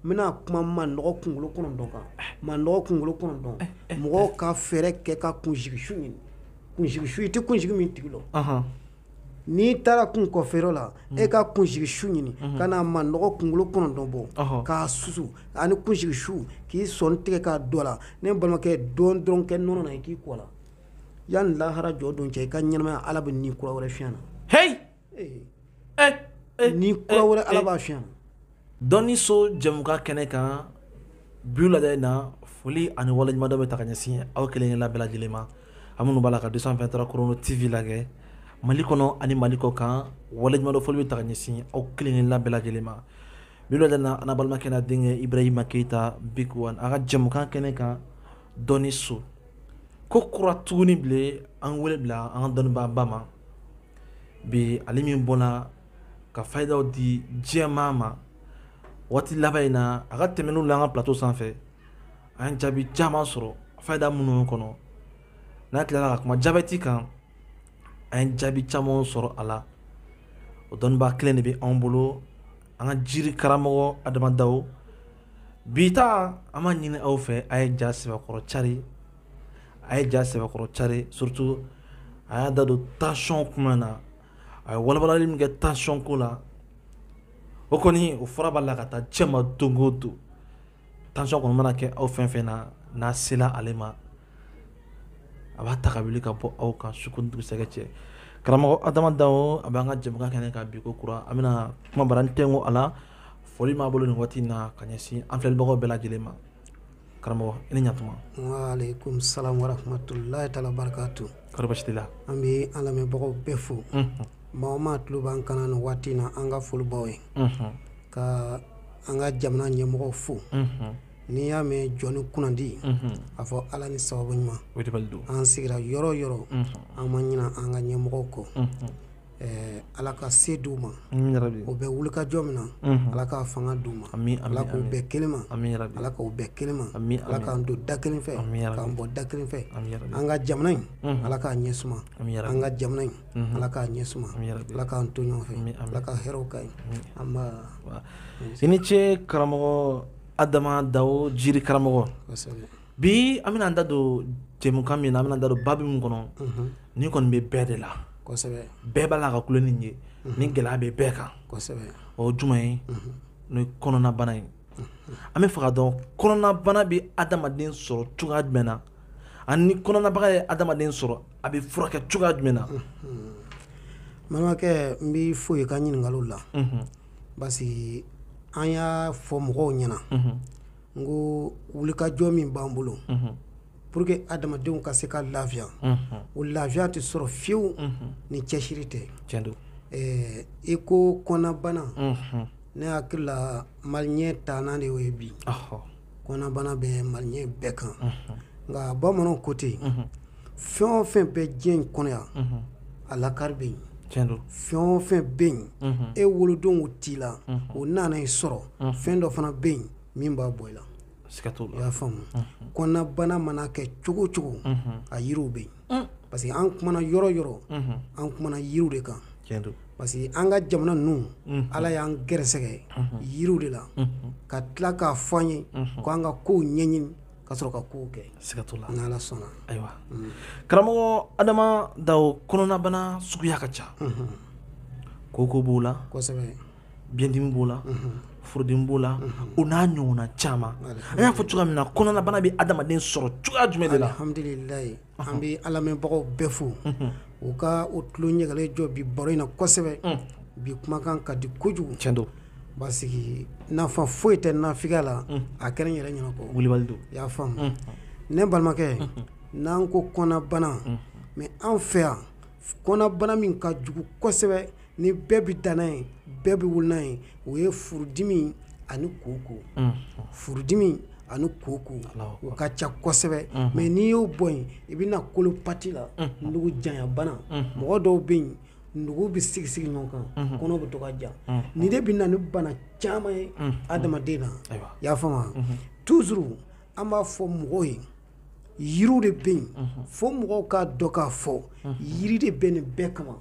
n bɛna kuma manɔgɔ kunkolo kɔnɔntɔn kan manɔgɔ kunkolo kɔnɔntɔn mɔgɔw ka fɛɛrɛ kɛ ka kunsigisu ɲini kunsigisu i tɛ kunsigi min tigi lɔn n'i taara kun kɔfɛyɔrɔ la e ka kunsigisu ɲini ka na manɔgɔ kunkolo kɔnɔntɔn bɔ k'a susu ani kunsigisu k'i sɔnin tigɛ k'a don a la ne balimakɛ dɔɔnin dɔrɔn kɛ nɔnɔ na i k'i ko a la yanni lahara jɔ don cɛ i ka ɲɛnamaya ala bɛ ni kura wɛrɛ fiɲɛ na ni kura wɛrɛ ala b'a fiɲɛ na dɔnni so jɛmukan kɛnɛ kan bi wulada in na foli ani waleɲumandɔn bɛ taa ka ɲɛsin aw kelen-kelenna bɛɛ lajɛlen ma aw minnu b'a la ka deux cent vingt-trois chrono tv lajɛ mali kɔnɔ ani mali kɔkan waleɲumandɔn foli bɛ taa ka ɲɛsin aw kelen-kelenna bɛɛ lajɛlen ma bi wulada in na an balimakɛ n'an denkɛ ibrahima keyita big one a ka jɛmukan kɛnɛ kan dɔnni so ko kura tuguni bilen an wele bila an ka dɔnnibaaba ma bi ale min bɔnna ka fayidaw di diɲɛmaa ma waati laban in na a ka tɛmɛnniw la an ka plateau sanfɛ an ye jaabi caman sɔrɔ fayida minnu kɔnɔ n'a tilala ka kuma jabɛti kan an ye jaabi caman sɔrɔ a la o dɔnnibaa kelen de bɛ anw bolo an ka jiri karamɔgɔ adama dawo bi ta an b'a ɲini aw fɛ a ye ja sɛbɛkɔrɔ cari a ye ja sɛbɛkɔrɔ cari surtout a y'a da don tension kuma na a ye walawalali min kɛ tension ko la o kɔni o fɔra b'a la ka taa cɛ ma don o don tension kɔni mana kɛ aw fɛn fɛn na n'a sela ale ma a b'a ta ka wuli ka bɔ aw kan su ko ni dugusɛjɛ cɛ karamɔgɔ adama dawo a b'an ka jɛmukan kɛnɛ kan bi ko kura an bɛna kuma bara n tɛnko a la foli b'a bolo nin waati in na ka ɲɛsin an filɛlibagaw bɛɛ lajɛlen ma karamɔgɔ i ni ɲatuma waaleykum salam warahmatulahi taala wabarakatu kɔri basi t'i la an bɛ an lamɛnbagaw bɛɛ fo maa o maa tulo b'an kan na nin waati na an ka foli b'aw ye ka an ka jamana ɲɛmɔgɔw fo n'i y'a mɛn jɔnnin kunnandi a fɔ ala ni sababu ɲuman an sigira yɔrɔ o yɔrɔ an ma ɲina an ka ɲɛmɔgɔw kɔ ɛɛ Ala ka se d'u ma. Ami yarabi. U bɛ wulikajɔ min na. Unhun. Ala k'a fanga d'u ma. Ami ami ami. Ala k'u bɛn kelen ma. Ami yarabi. Ala k'u bɛn kelen ma. Ami ami. Ala k'an don da kelen fɛ. Ami yarabi. K'an bɔ da kelen fɛ. Ami yarabi. An ka jamana in. Unhun. Ala k'a ɲɛ suma. Ami yarabi. An ka jamana in. Unhun. Ala k'a ɲɛ suma. Ami yarabi. Ala k'an to ɲɔgɔn fɛ. Ami ami. Ala ka hɛrɛw k'an ye. Ami. Anba. Wa. I ni ce karamɔgɔ Adama Dawo Jiri karamɔgɔ. Kosɛbɛ. bi an bɛna da don jɛmukan min na an bɛna da don babu min kɔnɔ nin kɔni bɛ bɛɛ de la bɛɛ b'a la ka kulo nin ye nin gɛlɛya bɛ bɛɛ kan o jumɛn ye n'o ye kɔnɔnabana ye an b'a fɛ k'a dɔn kɔnɔnabana bɛ adamaden sɔrɔ cogoya jumɛn na ani ni kɔnɔnabaga ye adamaden sɔrɔ a bɛ furakɛ cogoya jumɛn na balimakɛ n b'i fo i ka ɲininkali la parce que an y'a fɔ mɔgɔw ɲɛna n ko wulikajɔ min b'an bolo pour que adamadenw ka se ka lafiya o lafiya tɛ sɔrɔ fiyewu ni cɛsiri tɛ i ko kɔnɔnabana ne hakili la maliyɛn tana de y'o ye bi kɔnɔnabana bɛ maliyɛn bɛɛ kan nka bamananw ko ten fɛn o fɛn bɛ diɲɛ in kɔnɔ yan a lakari bɛ yen fɛn o fɛn bɛ yen e wolodon o t'i la o nana i sɔrɔ fɛn dɔ fana bɛ yen min b'a bɔ i la i y'a faamu kɔnɔnabana mana kɛ cogo cogo a yiriw bɛ yen parce que an kumana yɔrɔ yɔrɔ an kumana yiriw de kan parce que an ka jamana ninnu ala y'an gɛrɛsɛgɛ yiriw de la ka tila k'a fɔ an ye ko an ka kow ɲɛɲini ka sɔrɔ ka kow kɛ siga t'o la n'ala sɔnna ayiwa mm. karamɔgɔ adama dawo kɔnɔnabana suguya ka ca mhm. koko b'o la kosɛbɛ biɲɛdimi b'o la mhm. furudimi b'o la mhm. o n'a ɲɔgɔnna caman an y'a fɔ cogoya min na kɔnɔnabana bɛ adamaden sɔrɔ cogoya jumɛn de la alhamdulilayi an bɛ an lamɛnbagaw bɛɛ fo u ka o tulo ɲɛgɛlen jɔ bi baro in na kosɛbɛ bi kumakan ka di kojugu cɛn don parce que nafa foyi tɛ nafigiya la a kɛra n yɛrɛ ɲɛna kɔ wulibali don i y'a faamu ne balimakɛ n'an ko kɔnɔnabana mais an fɛ yan kɔnɔnabana min ka jugu kosɛbɛ ni bɛɛ bɛ dan n'a ye bɛɛ bɛ wolo n'a ye o ye furudimi ani koko furudimi ani koko u ka ca kosɛbɛ mais n'i y'o bɔ yen i bɛ na colopathie la nugu janyabana mɔgɔ dɔw bɛ yen nugu bɛ sigi sigi ɲɔgɔn kan kɔnɔ bɛ to ka ja nin de bɛ na ni bana caman ye adamaden na i y'a faamu toujours an b'a fɔ mɔgɔw ye yiriw de bɛ yen fo mɔgɔw k'a dɔn k'a fɔ yiri de bɛ nin bɛɛ kama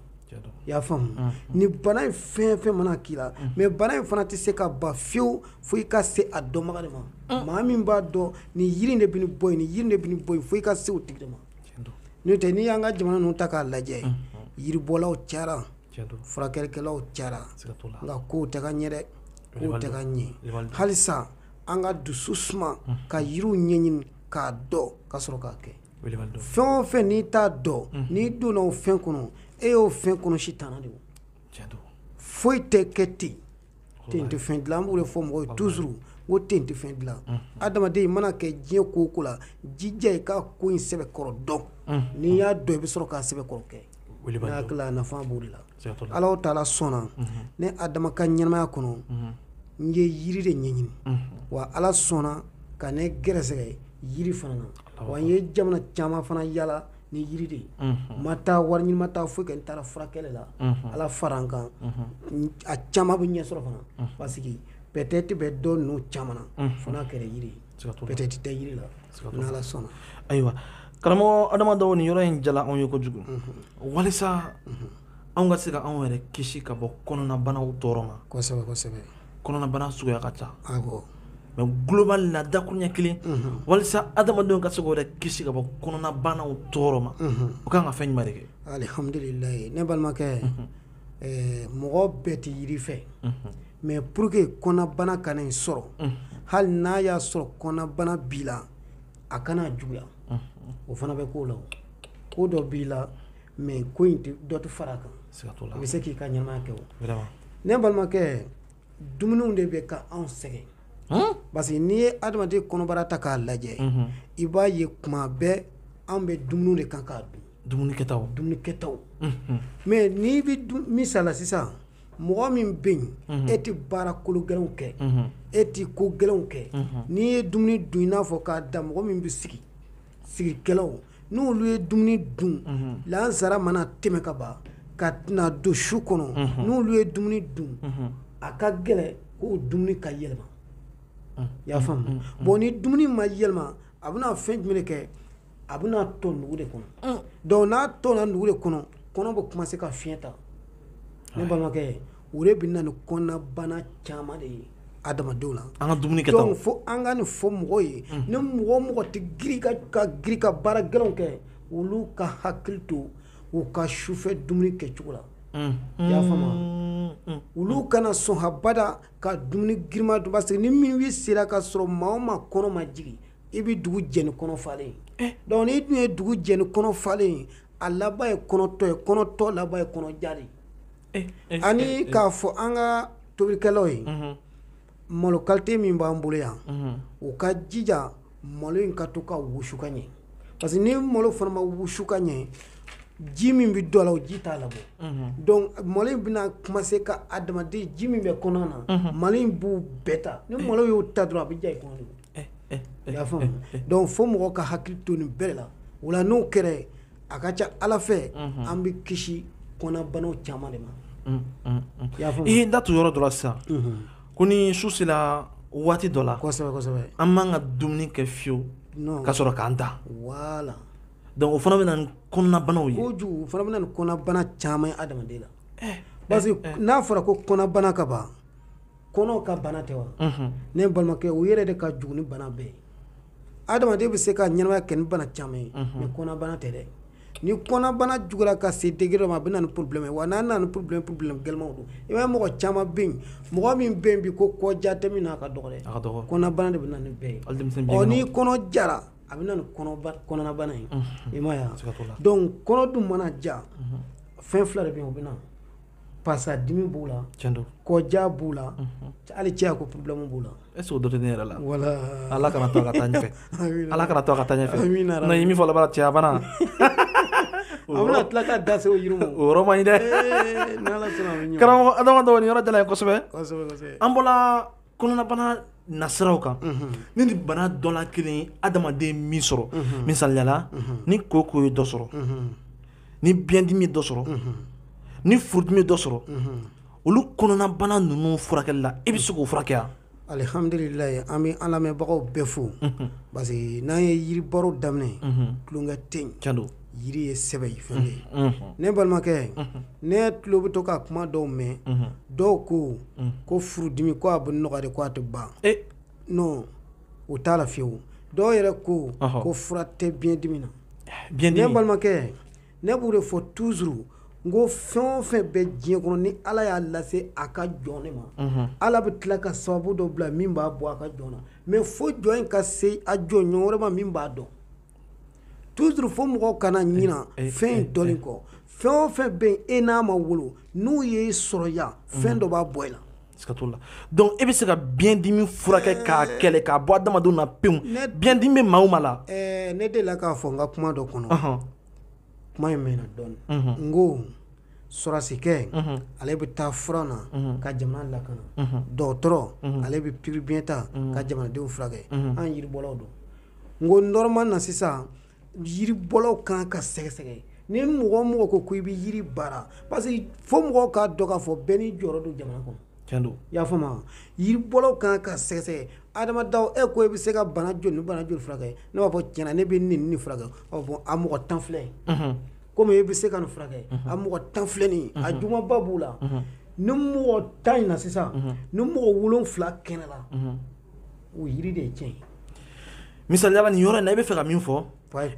i y'a faamu ni bana in fɛn fɛn mana k'i la mais bana in fana tɛ se ka ban fiyewu fo i ka se a dɔnbaga de ma maa min b'a dɔn nin yiri de bɛ nin bɔ yen nin yiri de bɛ nin bɔ yen fo i ka se o tigi de ma n'o tɛ n'i y'an ka jamana ninnu ta k'a lajɛ yiribɔlaw cayara furakɛlikɛlaw cayara nka kow tɛ ka ɲɛ dɛ kow tɛ ka ɲɛ halisa an ka dusu suma ka yiriw ɲɛɲini k'a dɔn ka sɔrɔ k'a kɛ fɛn o fɛn n'i t'a dɔn n'i donna o fɛn kɔnɔ e y'o fɛn kɔnɔ sitana de foyi tɛ kɛ ten ten tɛ fɛn dilan an b'o de fɔ mɔgɔ ye toujours ko ten tɛ fɛn dilan adamaden i mana kɛ diɲɛ ko o ko la jija i ka ko in sɛbɛkɔrɔ dɔn n'i y'a dɔn i bɛ sɔrɔ k'a sɛbɛkɔrɔ kɛ nafa b'o de la alahu taala sɔnna ne adama ka ɲɛnamaya kɔnɔ n ye yiri de ɲɛɲini wa ala sɔnna ka ne gɛrɛsɛgɛ yiri fana na wa n ye jamana caman fana yaala ni yiri de ye ma taa wari ɲini ma taa foyi kɛ n taara furakɛli la ala fara n kan a caman bɛ ɲɛ sɔrɔ fana parce que peut-être bɛ dɔ ninnu caman na fo n'a kɛra yiri ye peut-être tɛ yiri la ni ala sɔnna ayiwa karamɔgɔ adamadenw nin yɔrɔ in diyala anw ye kojugu walisa anw ka se ka anw yɛrɛ kisi ka bɔ kɔnɔnabanaw tɔɔrɔ ma kɔnɔnabana suguya ka ca mais global la dakuruɲɛ kelen walisa adamadenw ka se k'u yɛrɛ kisi ka bɔ kɔnɔnabanaw tɔɔrɔ ma u ka kan ka fɛn jumɛn de kɛ alihamdulila ne balimakɛ mɔgɔ bɛɛ tɛ yiri fɛ Mais pour que kɔnɔnabana kana i sɔrɔ, unhun, hali n'a y'a sɔrɔ kɔnɔnabana b'i la, a kana juguya, unhun, o fana bɛ ko la, ko dɔ b'i la mais ko in dɔ tɛ fara a kan, siga t'o la, i bɛ se k'i ka ɲɛnamaya kɛ o, vraiment, ne balimakɛ, dumuniw de bɛ ka anw sɛgɛn, han, parce que n'i ye adamaden kɔnɔbara ta k'a lajɛ, unhun, i b'a ye kuma bɛɛ an bɛ dumuni de kan k'a dun, dumuni kɛtaw, dumuni kɛtaw, unhun, mais n'i bɛ dun misali la sisan mɔgɔ min bɛ yen mhm. e tɛ baara kolo gɛlɛnw kɛ mhm. e tɛ ko gɛlɛnw kɛ mhm. n'i ye dumuni dun i n'a fɔ k'a da mɔgɔ min bɛ sigi sigikɛlaw n'olu ye dumuni dun lansara mana tɛmɛ ka ban ka na don su kɔnɔ n'olu ye dumuni dun a ka gɛlɛn k'o dumuni ka yɛlɛma i y'a faamu bon ni dumuni ma yɛlɛma a bɛna fɛn jumɛn de kɛ a bɛna tɔn nugu de kɔnɔ mm. donc n'a tɔnna nugu de kɔnɔ kɔnɔ bɛ commencer ka fiɲɛ ta ne balimakɛ o de bɛ na ni kɔnɔnabana caman de ye adamadenw la an ka dumuni kɛtaw donc fo an ka nin fɔ mɔgɔ ye mm. ni mɔgɔ o mɔgɔ tɛ ka girin ka baara gɛlɛnw kɛ olu ka hakili to u ka sufɛ dumuni kɛcogo la mm. i y'a faamu olu kana sɔn habada ka dumuni girinman dun parce que ni midi sera ka sɔrɔ maa o maa kɔnɔ ma jigin i bɛ dugu jɛ ni kɔnɔ falen ye donc n'i dun ye dugu jɛ ni kɔnɔ falen ye a laban ye kɔnɔton ye kɔnɔton laban ye kɔnɔja ye ani k'a fɔ an ka tobilikɛlaw ye malo qualité min b'an bolo yan u ka jija malo in ka to ka wusu ka ɲɛ parce que ni malo fana ma wusu ka ɲɛ ji min bɛ dɔ la o ji t'a labɔ donc malo in bɛna commencer ka adamaden ji min bɛ kɔnɔ na malo in b'o bɛɛ ta ni malo y'o ta dɔrɔn a bɛ ja i kɔnɔ donc fo mɔgɔ ka hakili to nin bɛɛ la voilà n'o kɛra a ka ca ala fɛ an bɛ kisi kɔnɔnabanaw caman de ma i da tu yɔrɔ dɔ la sisan ko ni su sera waati dɔ la an man ka dumuni kɛ fiyewu ka sɔrɔ k'an da voilà donc o fana bɛ na ni kɔnɔnabanaw ye o fana bɛ na ni kɔnɔbana caman ye adamaden la parce que n'a fɔra ko kɔnɔbana ka ban kɔnɔ ka bana tɛ wa ne balimakɛ o yɛrɛ de ka jugu ni bana bɛɛ ye adamaden bɛ se ka ɲɛnamaya kɛ ni bana caman ye mais kɔnɔnabana tɛ dɛ ni kɔnɔnabana juguyara ka se degré dɔ ma a bɛ na ni problème ye wa n'a nana ni problème ye problème gɛlɛmanw don i b'a ye mɔgɔ caman bɛ yen mɔgɔ min bɛ yen bi ko kɔja tɛ min na a ka dɔgɔ dɛ a ka dɔgɔ kɔnɔnabana de bɛ na ni bɛɛ ye hali denmisɛnninw ni bilenmanw kɔnɔ jara a bɛ na ni kɔnɔba kɔnɔnabana ye i m'a ye wa siga t'o la donc kɔnɔ dun mana ja fɛn fila de bɛ yen o bɛ na pasadimi b'u la kɔja b'u la hali cɛya ko problème b'u la est-ce que o dɔ tɛ ne yɛrɛ la voilà ala kana to a ka taa ɲɛfɛ ala kana to a ka taa ɲɛfɛ non i min fɔ laban cɛyabana a bɛna tila ka da se o yiri ma o yɔrɔ man ɲi dɛ karamɔgɔ adama donc nin yɔrɔ diyara an ye kosɛbɛ an bɔra kɔnɔnabana nasiraw kan ni nin bana dɔ la kelen ye adamaden min sɔrɔ misaliyala ni koko ye dɔ sɔrɔ ni biyɛndimi ye dɔ sɔrɔ ni furudimi ye dɔ sɔrɔ olu kɔnɔnabana ninnu furakɛli la i bɛ se k'o furakɛ yan alihamdulilayi an bɛ an lamɛnbagaw bɛɛ fo parce que n'an ye yiri baro daminɛ tulonkɛ tɛ yen yiri ye sɛbɛya fɛn de ye ne balimakɛ ne tulo bɛ to ka kuma dɔw mɛn dɔw ko ko furudimi ko a bɛ nɔgɔya de ko a tɛ ban non o t'a la fiyewu dɔw yɛrɛ ko ko fura tɛ biyɛndimi na ne balimakɛ ne b'o de fɔ toujours n ko fɛn o fɛn bɛ diɲɛ kɔnɔ ni ala y'a lase a ka jɔn nin ma ala bɛ tila ka sababu dɔ bila min b'a bɔ a ka jɔn na mais fo jɔn in ka se a jɔnɲɔgɔn wɛrɛ ma min b'a dɔn Toujours fo mɔgɔw kana ɲina fɛn in dɔnni kɔ fɛn o fɛn bɛ yen e n'a ma wolo n'u y'i sɔrɔ yan fɛn dɔ b'a bɔ i la donc e bɛ se ka biɲɛn dimi furakɛ k'a kɛlɛ k'a bɔ adamadenw na pewu biɲɛn dimi bɛ maa o maa la ne delila k'a fɔ n ka kuma dɔ kɔnɔ kuma in mɛnna dɔɔnin n ko sɔrasikɛ ale bɛ taa front na ka jamana lakana dɔgɔtɔrɔ ale bɛ pikiribiɲɛ ta ka jamanadenw furakɛ an yiribɔlaw don n ko normal na sisan yiribɔlaw kan ka sɛgɛsɛgɛ ni mɔgɔ o mɔgɔ ko k'i bɛ yiri baara parce que fo mɔgɔw k'a dɔn k'a fɔ bɛɛ n'i jɔyɔrɔ don jamana kɔnɔ tiɲɛ don i y'a faamu yiribɔlaw kan ka sɛgɛsɛgɛ adama daw e ko e bɛ se ka bana joli ni bana joli furakɛ ne b'a fɔ tiɲɛna ne bɛ nin nin furakɛ ɔ bɔn a mɔgɔ tan filɛ komi e bɛ se ka nin furakɛ a mɔgɔ tan filɛ nin a jugumanba b'u la ni mɔgɔ tan in na sisan ni mɔgɔ wolonfila kɛnɛyala o yiri de ye tiɲɛ ye misaliya la nin yɔrɔ in na i bɛ fɛ ka min fɔ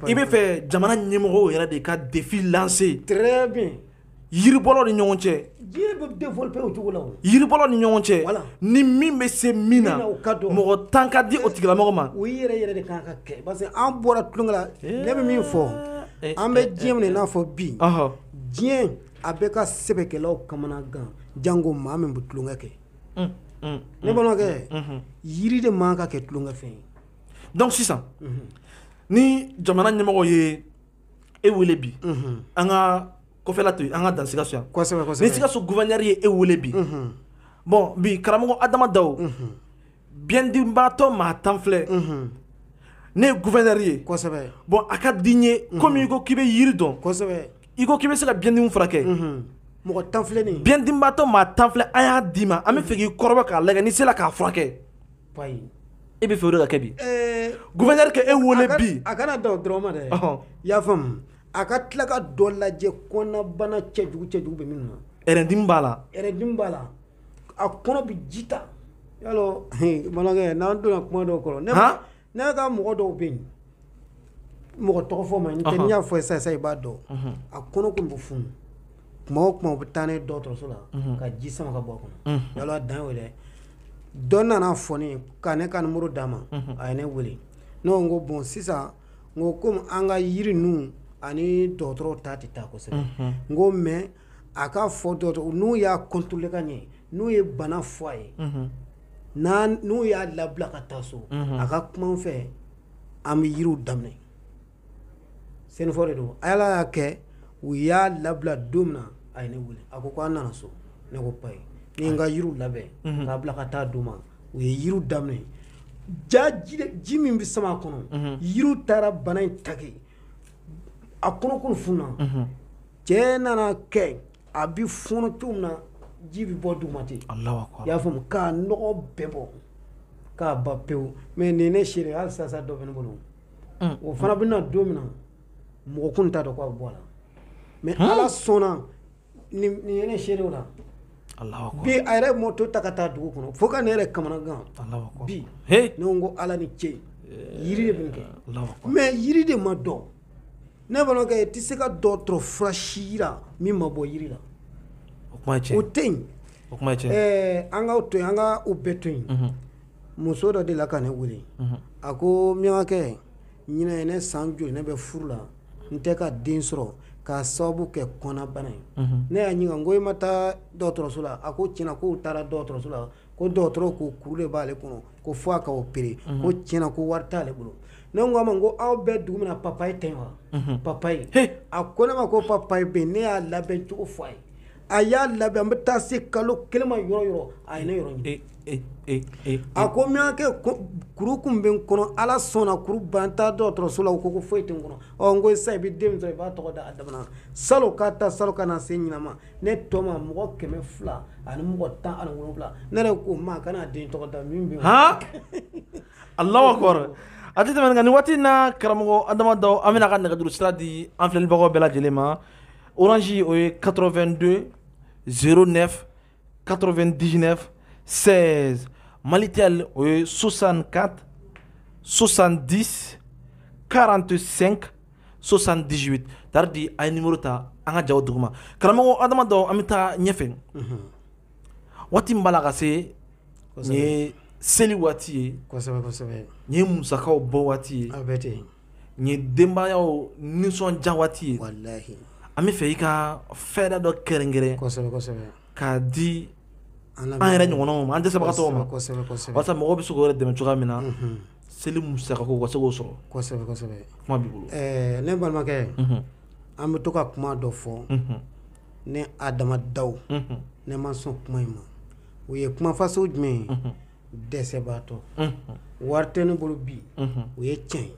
i bɛ fɛ jamana ɲɛmɔgɔw yɛrɛ de ka défi lancer très bien yiribɔlaw ni ɲɔgɔn cɛ jiri bɛ développer o cogo la o yiribɔlaw ni ɲɔgɔn cɛ voilà ni min bɛ se min na o ka dɔn mɔgɔ tan ka di o tigilamɔgɔ ma o yɛrɛ yɛrɛ de kan ka kɛ parce que an bɔra tulonkɛ la ne bɛ min fɔ an bɛ diɲɛ min na i n'a fɔ bi diɲɛ a bɛ ka sɛbɛkɛlaw kamanagan janko maa min bɛ tulonkɛ kɛ ne balimakɛ yiri de man ka kɛ tulonkɛ fɛn ye donc sisan ni jamana ɲɛmɔgɔ ye e wele bi an ka kɔfɛla to yen an ka dan sikaso yan kosɛbɛ kosɛbɛ ni sikaso gouverneur ye e wele bi bon bi karamɔgɔ adama daw biɲɛdimibaatɔ maa tan filɛ ne ye gouverneur ye kosɛbɛ bon a ka di n ye komi i ko k'i bɛ yiri dɔn kosɛbɛ i ko k'i bɛ se ka biɲɛdimi furakɛ mɔgɔ tan filɛ nin biɲɛdimibaatɔ maa tan filɛ an y'a d'i ma an bɛ fɛ k'i kɔrɔbɔ k'a lagɛ n'i sera k'a furakɛ e bɛ fɛ o de ka kɛ bi gouverneur ka e wele bi a kana dan o dɔrɔn ma dɛ i y'a faamu a ka tila ka dɔ lajɛ kɔnɔnabana cɛjugu cɛjugu bɛ min na ɛrɛndimi b'a la ɛrɛndimi b'a la a kɔnɔ bɛ ji ta yalɔ bamanankɛ n'an donna kuma dɔw kɔrɔ ne Ne ka mɔgɔ dɔw bɛ yen mɔgɔ tɔgɔ fɔ man ɲi n tɛ n y'a fɔ i ye sisan i b'a dɔn a kɔnɔ tun bɛ funu tuma o tuma u bɛ taa n'a ye dɔgɔtɔrɔso la ka ji sama ka bɔ a kɔnɔ yala a dan y'o dɛ dɔ nana a fɔ ne ka ne ka numéro d'a ma a ye ne weele ne ko bon sisan n ko kɔmi an ka yiri ninnu ani dɔgɔtɔrɔw ta tɛ taa kosɛbɛ n ko mais a ka fɔ dɔgɔtɔrɔ n'u y'a contrôler ka ɲɛ n'u ye bana fɔ a ye n'u y'a labila ka taa so a ka kuma n fɛ an bɛ yiriw daminɛ sɛnɛfɔ de don Ala y'a kɛ u y'a labila don min na a ye ne wele a ko ko an nana so ne ko ba ye ne ye n ka yiriw labɛn k'a bila ka taa d'u ma u ye yiriw daminɛ ja ji min bɛ sama a kɔnɔ yiriw taara bana in take a kɔnɔ kun fununa. cɛ nana kɛ a bɛ fɔɔnɔ cogo min na ji bɛ bɔ duguma ten i y'a faamu k'a nɔgɔ bɛɛ bɔ k'a ban pewu mɛ nin ne seere hali sisan dɔ bɛ ne bolo o fana bɛ na don min na mɔgɔ kun t'a dɔn k'a bɔ a la mɛ ala sɔnna nin ye ne seere o la bi a yɛrɛ mɔto ta ka taa dugu kɔnɔ fo ka ne yɛrɛ kamanagan bi ne ko ala ni ce yiri de b'a kɛ mɛ yiri de ma dɔn Ne balimakɛ i tɛ se ka dɔgɔtɔrɔ fura si yira min ma bɔ yiri la, o kuma ye tiɲɛ ye, o tɛ yen, o kuma ye tiɲɛ ye, ɛɛ an k'o to yen, an ka o bɛɛ to yen, unhun, muso dɔ delila ka ne wele, unhun, a ko Miɲankakɛ ɲinan ye ne san joli ne bɛ furu la n tɛ ka den sɔrɔ k'a sababu kɛ kɔnɔnabana ye, unhun, ne y'a ɲininka n ko e ma taa dɔgɔtɔrɔso la a ko tiɲɛna k'u taara dɔgɔtɔrɔso la ko dɔgɔtɔrɔ ko kuru de b'ale kɔnɔ ko fo a ka opérer unhun ko tiɲɛna ko wari t'ale bolo ne ko a ma n ko aw bɛ dugu min na papaye tɛ yen wa unhun papaye he a ko ne ma ko papaye bɛ yen ne y'a labɛn cogo fɔ a ye a y'a labɛn an bɛ taa se kalo kelen ma yɔrɔ yɔrɔ a ye ne yɔrɔ ɲini e e e e a ko miyankɛ ko kuru kun bɛ n kɔnɔ Ala sɔnna kuru ban n taara dɔgɔtɔrɔso la u ko ko foyi tɛ n kɔnɔ ɔ n ko sisan i bɛ den min sɔrɔ i b'a tɔgɔ da Adama na salon k'a ta salon ka na se ɲinan ma ne tɔma mɔgɔ kɛmɛ fila ani mɔgɔ tan ani wolonwula ne yɛrɛ ko maa kana den tɔgɔ da min bɛ han Allahu akbar a tɛ tɛmɛ nin waati na karamɔgɔ Adama Daw an bɛn'a ka nɛgɛjuru sira di an filɛlibagaw bɛɛ lajɛlen ma orange o ye 82 09 99 16 Malitel o ye 64 70 45 78 tari di a ye numéro ta an ka jaw duguma karamɔgɔ adama daw an bɛ taa ɲɛfɛ mhm. waati min b'a la ka se nin ye seli waati ye nin ye musakaw bɔ waati ye nin ye denbayaw nisɔndiya waati ye an bɛ fɛ i ka fɛɛrɛ dɔ kɛrɛnkɛrɛn k'a di an yɛrɛ ɲɔgɔnnaw ma an dɛsɛbagatɔw ma walasa mɔgɔw bɛ se k'o yɛrɛ dɛmɛ cogoya min na mhm. seli musaka ko ka se k'o sɔrɔ kosɛbɛ kosɛbɛ kuma b'i bolo ɛɛ ne balimakɛ an bɛ to ka kuma dɔ fɔ ne adama daw ne ma sɔn kuma in ma o ye kuma fasɔn jumɛn ye dɛsɛbaatɔ wari tɛ ne bolo bi o ye tiɲɛ ye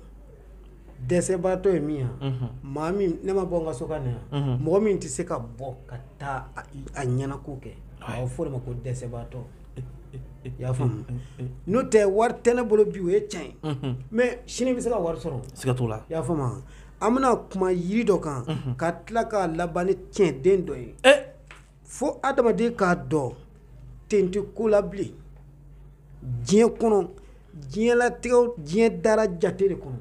dɛsɛbaatɔ ye min ye maa min ne ma bɔ n ka so ka na yan mɔgɔ min tɛ se ka bɔ ka taa a ɲɛnako kɛ a bɛ fɔ o de ma ko dɛsɛbaatɔ i y'a faamu n'o tɛ wari tɛ ne bolo bi o ye tiɲɛ ye mɛ sini bɛ se ka wari sɔrɔ siga t'o la i y'a faamu an bɛna kuma yiri dɔ kan ka tila k'a laban ni cɛnden dɔ ye fo adamaden k'a dɔn ten tɛ ko la bilen diɲɛ kɔnɔ diɲɛlatigɛ diɲɛ dara jate de kɔnɔ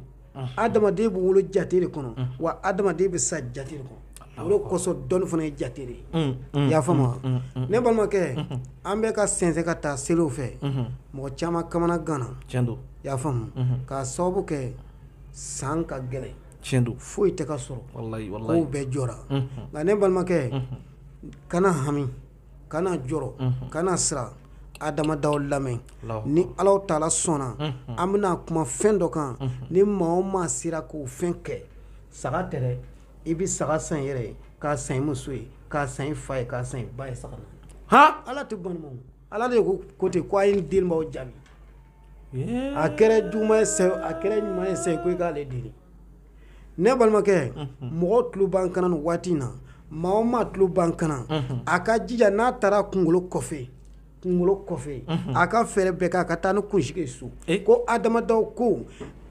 adamaden bɛ wolo jate de kɔnɔ wa adamaden bɛ sa jate de kɔnɔ o de kosɔn dɔnni fana ye jate de ye i y'a faamu ne balimakɛ an bɛ ka sɛnsɛn ka taa seliw fɛ mɔgɔ caman kamana ganna i y'a faamu k'a sababu kɛ san ka gɛlɛn tiɲɛ don foyi tɛ ka sɔrɔ walayi walayi kow bɛɛ jɔra nka ne balimakɛ kana hami kana jɔrɔ kana siran adama daw lamɛn ni ala taala sɔnna an bɛna kuma fɛn dɔ kan ni maa o maa sera k'o fɛn kɛ saga tɛ dɛ i bɛ saga san i yɛrɛ ye k'a san i muso ye k'a san i fa ye k'a san i ba ye saga han ala tɛ ban i ma ala de ko ko ten ko a ye delibaw jaabi a kɛra juguman ye a kɛra ɲuman ye sa ko i k'ale deli ne balimakɛ mɔgɔw tulo b'an kan na nin waati in na maa o maa tulo b'an kan na a ka jija n'a taara kunkolo kɔfɛ kunkolo kɔfɛ a ka fɛɛrɛ bɛɛ kɛ a ka taa ni kunsigi ye so ko adama daw ko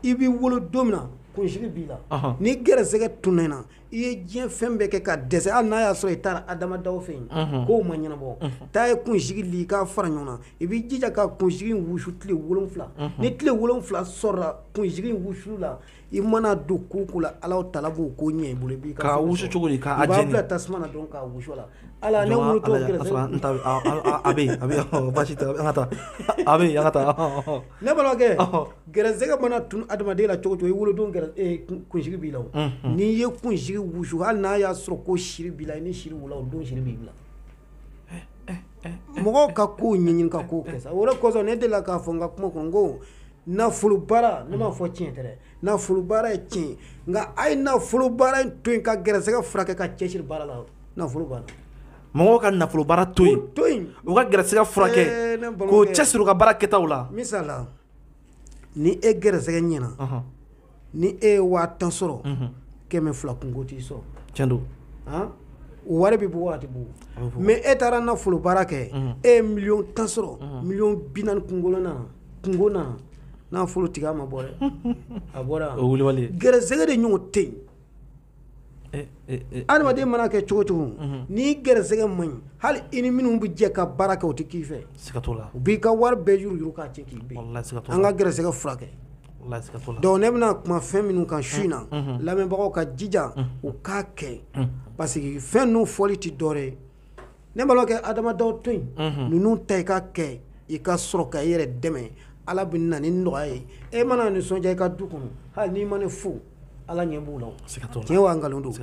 i b'i wolo don min na kunsigi b'i la ni gɛrɛsɛgɛ tunna i na i ye diɲɛ fɛn bɛɛ kɛ ka dɛsɛ hali n'a y'a sɔrɔ i taara adama daw fɛ yen ko ma ɲɛnabɔ taa ye kunsigi li k'a fara ɲɔgɔn na i b'i jija ka kunsigi wusu tile wolonwula ni tile wolonwula sɔrɔla kunsigi wusuli la i mana don ko o ko la ala taala b'o ko ɲɛ i bolo i bɛ k'a wusu cogo di k'a jeni i b'a bila tasuma na dɔrɔn k'a wusu a la ala ne wolo t'o kɛrɛfɛ a bɛ yen a bɛ yen basi tɛ an ka taa a bɛ yen an ka taa Ne balimakɛ gɛrɛsɛgɛ mana tunun adamaden la cogo o cogo i wolodon kunsigi b'i la n'i ye kunsigi wusu hali n'a y'a sɔrɔ ko siri b'i la i ni siri wolo o don siri b'i bila mɔgɔw ka kow ɲɛɲini ka kow kɛ o de kosɔn ne delila k'a fɔ n ka kuma kɔnɔ ko nafolo baara ne m'a fɔ tiɲɛ tɛ dɛ nafolo baara ye tiɲɛ nka a ye nafolo baara in to yen ka gɛrɛsɛgɛ furakɛ ka cɛsiri baara la nafolo baara mɔgɔw ka nafolo baara to yen u ka gɛrɛsɛgɛ furakɛ eh, k'u cɛsiri u ka baara kɛtaw la misala ni e gɛrɛsɛgɛ ɲɛna ni e ye waa tan sɔrɔ mhm. kɛmɛ fila kunko t'i sɔrɔ tiɲɛ don o wari bɛ bɔ waati bɔ mɛ e taara nafolo baara kɛ mhm. e ye miliyɔn tan sɔrɔ mhm. miliyɔn binaani kunko na kunko na nafolo tɛ k'a ma bɔ dɛ a bɔra gɛrɛsɛgɛ de ɲɔgɔn tɛ yen adamaden mana kɛ cogo cogo n'i gɛrɛsɛgɛ man ɲi hali i ni minnu bɛ jɛ ka baara kɛ u tɛ k'i fɛ u b'i ka wari bɛɛ yuruyuru k'a cɛ k'i bin an ka gɛrɛsɛgɛ furakɛ donc ne bɛna kuma fɛn minnu kan su in na lamɛnbagaw ka jija u k'a kɛ parce que fɛn ninnu fɔli tɛ dɔwɛrɛ ye ne balimakɛ adama daw to yen ninnu ta i ka kɛ i ka sɔrɔ ka i yɛrɛ dɛmɛ ala bɛ na ni nɔgɔya ye e mana nisɔndiya i ka du kɔnɔ hali n'i ma ne fo ala ɲɛ b'u la tiɲɛ nkalon don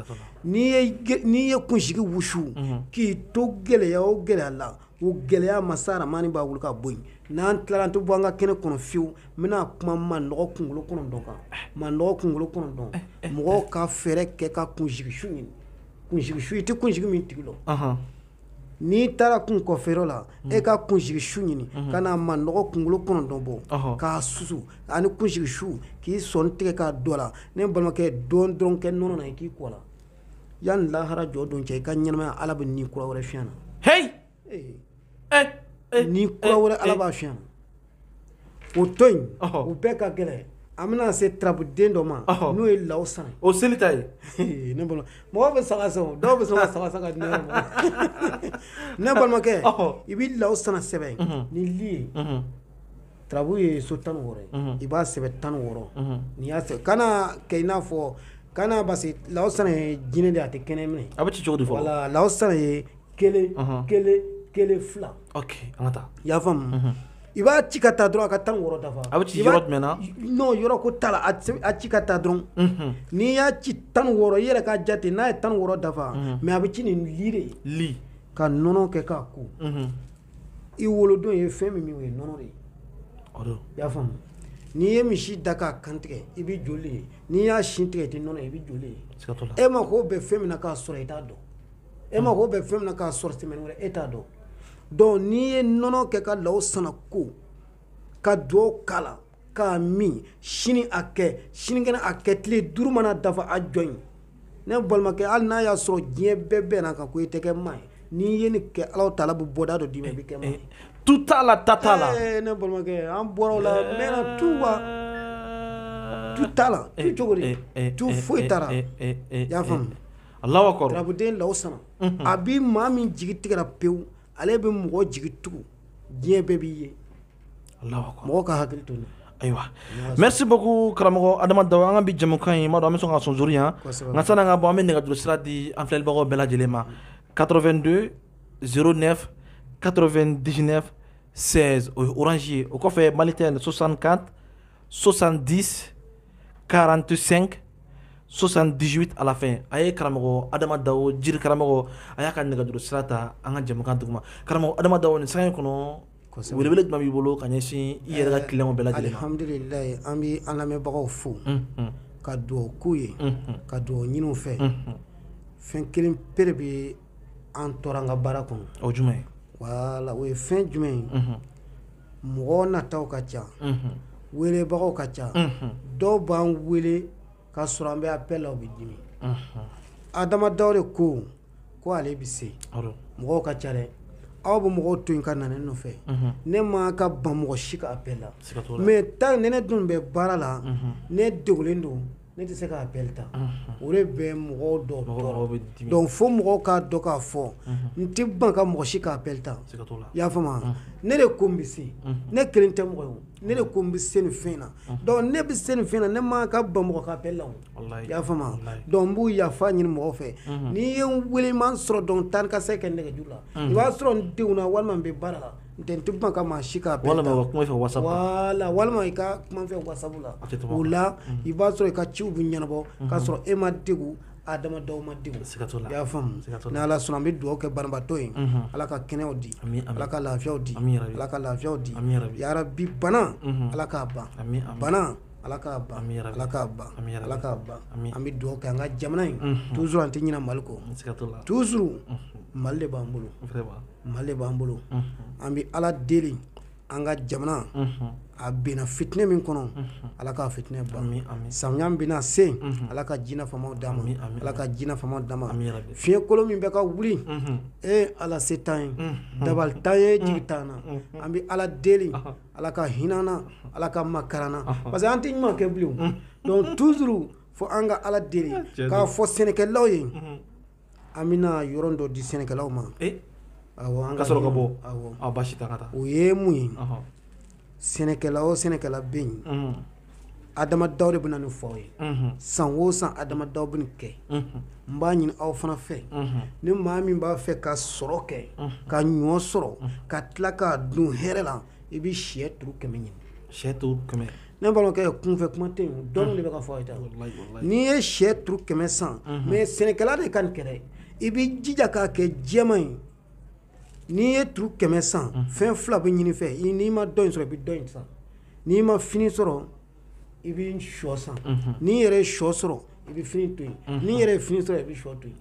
n'i ye kunsigi wusu k'i to gɛlɛya o gɛlɛya la o gɛlɛya masa aramani b'a wuli ka bɔ yen n'an tilala an tɛ bɔ an ka kɛnɛ kɔnɔ fiyewu n bɛna kuma manɔgɔ kunkolo kɔnɔntɔn kan manɔgɔ kunkolo kɔnɔntɔn mɔgɔw ka fɛɛrɛ kɛ ka kunsigi su ɲini kunsigi su i tɛ kunsigi min tigi lɔ n'i taara kun coiffer yɔrɔ la mm. e ka kunsigi su ɲini mm-hmm. ka na manɔgɔ kunkolo kɔnɔntɔn bɔ k'a susu ani kunsigi su k'i sɔnin tigɛ k'a dɔ la ne balimakɛ dɔ dɔrɔn kɛ nɔnɔ na i k'i ko o la yanni lahara jɔ don cɛ i ka ɲɛnamaya ala bɛ ni kura wɛrɛ fiyɛ a na ni kura wɛrɛ ala b'a fiyɛ o to yen u bɛɛ ka gɛlɛn an bɛna se tarabuden dɔ ma n'o ye law sana o seli ta ye ne bolo mɔgɔ bɛ saga san dɔw bɛ sɔn ka saga san ka di ne yɛrɛ ma ne balimakɛ i bɛ law sana sɛbɛn ni li ye tarabu ye so tan wɔɔrɔ i b'a sɛbɛn tan wɔɔrɔ n'i y'a sɛbɛn kana kɛ i n'a fɔ kana parce law sana ye jinɛ de a tɛ kɛnɛ minɛ a bɛ ci cogo di fɔ law sana ye kelen kelen kelen fila ok an ka taa i y'a faamu i b'a ci ka taa dɔrɔn a ka tan wɔɔrɔ dafa a bɛ ci yɔrɔ jumɛn na non yɔrɔ ko t'a la a ci ka taa dɔrɔn n'i y'a ci tan wɔɔrɔ i yɛrɛ k'a jate n'a ye tan wɔɔrɔ dafa mais a bɛ ci ni li de ye li ka nɔnɔ kɛ k'a ko i wolodon ye fɛn min min o ye nɔnɔ de ye i y'a faamu n'i ye misi da k'a kan tigɛ i bɛ joli ye n'i y'a sin tigɛ i tɛ nɔnɔ ye i bɛ joli ye e mako bɛ fɛn min na k'a sɔrɔ i t'a dɔn e mako bɛ fɛn min na k'a sɔrɔ tɛmɛ wɛrɛ e t'a dɔn donc n'i ye nɔnɔ kɛ ka law sana ko ka dugawu k'a la k'a min sini a kɛ sinikɛnɛ a kɛ tile duuru mana dafa a jɔ yen ne balimakɛ hali n'a y'a sɔrɔ diɲɛ bɛɛ bɛnna a kan ko e tɛ kɛ maa ye n'i ye nin kɛ ala taala bɛ bɔda dɔ d'i ma i bɛ kɛ maa ye tu t'a la ta t'a la ne balimakɛ an bɔra o la mɛnna tu wa tu t'a la tu cogo di tu foyi t'a la i y'a faamuya Alabuden la san a bɛ maa min jigi tigɛ pewu ale bɛ mɔgɔ jigi tugun diɲɛ bɛɛ b'i ye mɔgɔ ka hakili to ayiwa mɛ se ko karamɔgɔ adama an ka bɛ jamukan in ma an bɛ sɔn ka sonso yan nka san ka bɔ an bɛ nɛgɛj sira di an filɛbagaw bɛɛ lajɛlen ma kato2 don z nɛ kato2 diinɛ sɛ oranzsi o kɔfɛ mali tɛ sosan ka sosan di 45 78 à la fin a ye karamɔgɔ adama dawo jiri karamɔgɔ a y'a ka nɛgɛjuru sira ta an ka jɛmukan duguma karamɔgɔ adama dawo nin sanga in kɔnɔ welewele jumɛn b'i bolo ka ɲɛsin i yɛrɛ ka clients bɛɛ lajɛlen ma alhamdulilayi an bɛ an lamɛnbagaw fo ka dugawu k'u ye ka dugawu ɲini u fɛ fɛn kelen pere bɛ an tɔɔrɔ an ka baara kɔnɔ o jumɛn ye wala o ye fɛn jumɛn ye mɔgɔ nataw ka ca welebagaw ka ca dɔw b'an wele ka sɔrɔ an bɛ appel la u bɛ dimi adama dawo de ko ko ale bɛ se mɔgɔw ka ca dɛ aw bɛ mɔgɔw to yen ka na ne nɔfɛ ne ma ka ban mɔgɔ si ka appel la maintenant ne dun bɛ baara la ne degulen don Ne tɛ se ka appel ta o de bɛ mɔgɔw tɔɔrɔ donc fo mɔgɔw k'a dɔn k'a fɔ n tɛ ban ka mɔgɔ si ka appel ta i y'a faamuya ne de ko n bɛ se ne kelen tɛ mɔgɔ ye ne de ko n bɛ se nin fɛn na donc ne bɛ se nin fɛn na ne ma ka ban mɔgɔ ka appel la i y'a faamuya donc n b'u yafa ɲini mɔgɔw fɛ n'i ye n wele i ma n sɔrɔ donc tan ka se ka nɛgɛjuru la i b'a sɔrɔ n degunna walima n bɛ baara la N tɛ n tɛ ban ka maa si ka appel ta walima kuma fɛ WhatsApp la walima i ka kuma fɛ WhatsApp la o la i b'a sɔrɔ i ka ciw bɛ ɲɛnabɔ k'a sɔrɔ e ma degun adama dawo ma degun i y'a faamu ni ala sɔnna an bɛ dugawu kɛ banabaatɔ ye ala ka kɛnɛyaw di ala ka lafiyaw di ala ka lafiyaw di yarabi bana ala k'a ban bana ala k'a ban ala k'a ban ala k'a ban an bɛ dugawu kɛ an ka jamana ye toujours an tɛ ɲinɛ mali kɔ toujours mali de b'an bolo Mali de b'an bolo an bɛ ala deli an ka jamana a bɛnna fitinɛ min kɔnɔ ala ka fitinɛ ban samiya bɛna se ala ka ji nafama d'an ma ala ka ji nafama d'an ma fiɲɛ kolon min bɛ ka wuli e ala se t'an ye dabali t'an ye jigi t'an na an bɛ ala deli ala ka hinɛ an na ala ka makari an na parce que an tɛ ɲuman kɛ bilen donc toujours fo an ka ala deli k'a fɔ sɛnɛkɛlaw ye An bɛna yɔrɔ dɔ di sɛnɛkɛlaw ma an ka sɔrɔ ka bɔ awɔ baasi t'a ka taa o ye mun ye sɛnɛkɛla o sɛnɛkɛla bɛ yen adama dawo de bɛ na nin fɔ aw ye san o san adama dawo bɛ nin kɛ n b'a ɲini aw fana fɛ ni maa min b'a fɛ ka sɔrɔ kɛ ka ɲɔ sɔrɔ ka tila k'a dun hɛrɛ la i bɛ sɛ turu kɛmɛ ɲini sɛ turu kɛmɛ Ne balimakɛ kunfɛ kuma tɛ yen dɔnni de bɛ ka fɔ aw ye n'i ye sɛ turu kɛmɛ san mais sɛnɛkɛla de ka nin kɛ dɛ i bɛ jija k'a kɛ jɛman ye n'i ye turu kɛmɛ san fɛn fila bɛ ɲini i fɛ n'i ma dɔ in sɔrɔ i bɛ dɔ in san n'i ma fini sɔrɔ i bɛ shɔ san n'i yɛrɛ ye shɔ sɔrɔ i bɛ fini to yen n'i yɛrɛ ye fini sɔrɔ i bɛ shɔ to yen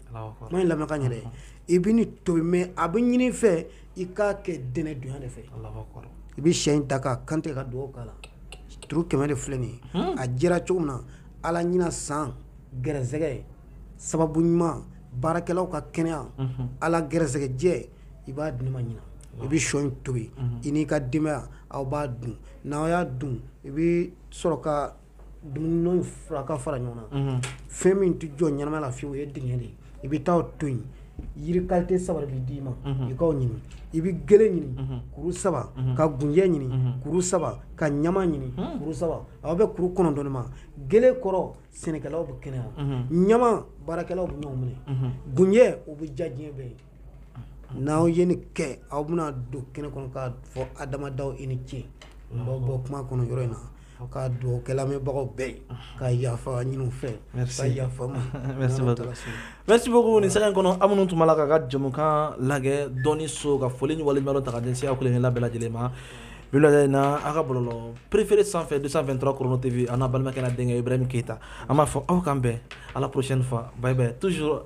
kuma in lamɛn ka ɲɛ dɛ i bɛ nin tobi mais a bɛ ɲini fɛ i k'a kɛ dɛnɛ donya de fɛ, Alahu akibaru, i bɛ shɛ in ta k'a kantigɛ ka dugawu k'a la turu kɛmɛ de filɛ nin ye, hunn, a jɛra cogo min na Ala ɲinan san gɛrɛsɛgɛ sababu ɲuman baarakɛlaw ka kɛnɛya, unhun, Ala gɛrɛsɛgɛ jɛ i b'a di ne ma ɲinan i bɛ sogo in tobi i n'i ka denbaya aw b'a dun n'aw y'a dun i bɛ sɔrɔ ka dumuni fura ka fara ɲɔgɔn na mhm. fɛn min tɛ jɔ ɲɛnama la fiyewu o ye dingɛ de ye i bɛ taa to yen yiri kalite saba de bɛ d'i ma mhm. i k'u ɲini i bɛ gele ɲini mhm. kuru saba ka gunjɛ ɲini kuru saba ka ɲama ɲini kuru saba a bɛ bɛn kuru kɔnɔntɔn de ma gele kɔrɔ sɛnɛkɛlaw bɛ kɛnɛya ɲama baarakɛlaw bɛ ɲɔgɔn minɛ gunjɛ o bɛ diya diɲɛ bɛɛ ye N'aw ye ni kɛ aw bɛna don kɛnɛ kɔnɔ ka fɔ ha adamadaw i ni ce baw bɔ kuma kɔnɔ yɔrɔ in na ka dugawubaga bɛɛ ye ka yafa ɲini fɛ yafa segu ni sa kɔnɔ minnu tun' la ka ka jamukan lajɛ dɔn so ka foli ni wale ɲɔgɔn ta denya kelen kelen labɛn lajɛlen ma in na aw ka bolo perefeere sanfɛ de sanfɛ dɔrɔn kɔnɔ tɛbi an balimakɛ denkɛ i bɛ min keyita an b'a fɔ aw kan bɛn ala kosɛn nifaba tuur